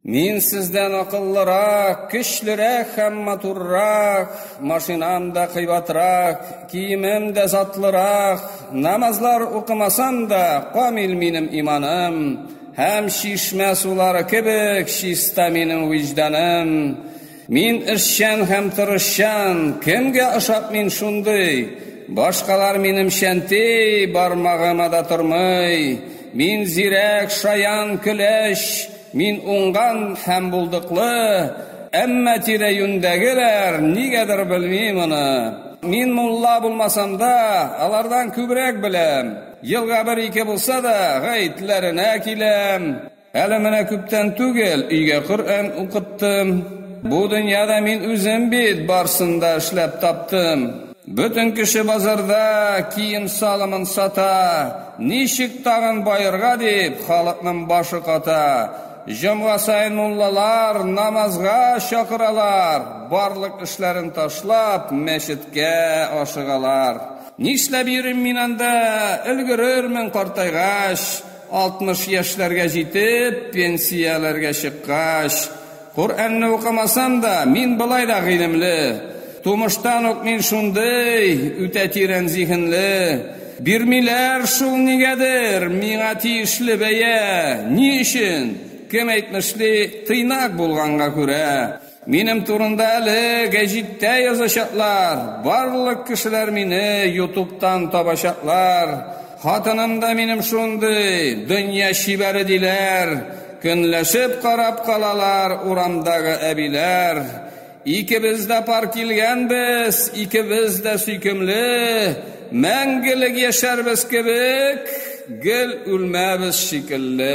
Мин сездән акыллырак, көчлерәк һәм матуррак, машинам да кыйбатрак, киемем дә затлырак, намазлар укымасам да, камил минем иманым, һәм чишмә сулары кебек чиста минем виҗданым. Мин эшчән һәм тырышчан, кемгә ошап мин шундый? Башкалар минем чәнтей, бармагыма да тормый. Мин зирәк, шаян, көләч, мин уңган һәм булдыклы, әмма тирә-юньдәгеләр нигәдер белми моны. Мин мулла булмасам да, алардан күбрәк беләм. Елга бер-ике булса да, гаетләренә киләм. Әле менә күптән түгел өйгә Коръән укыттым. Бу дөньяда мин үзем бит барсын да эшләп таптым. Бөтен кеше базарда кием салымын сата. Ничек тагын баерга дип, халыкның башы ката. Җомга саен муллалар намазга чакыралар. Барлык эшләрен ташлап, мәчеткә ашыгалар. Нишләп йөрим мин анда, өлгерермен картайгач. 60 яшьләргә җитеп, пенсияләргә чыккач, Коръәнне укымасам да, мин болай да гыйлемле. Тумыштан ук мин шундый, үтә тирән зиһенле. Бирмиләр шул нигәдер миңа тиешле бәя. Ни өчен? Кем әйтмешли, тыйнак булганга күрә. Минем турында әле гәҗиттә язачаклар, барлык кешеләр мине ютубтан табачаклар. Хатыным да минем шундый, дөнья чибәре диләр. Көнләшеп карап калалар урамдагы әбиләр. Икебез дә пар килгәнбез, икебез дә сөйкемле. Мәңгелек яшәрбез кебек, гел үлмәбез шикелле.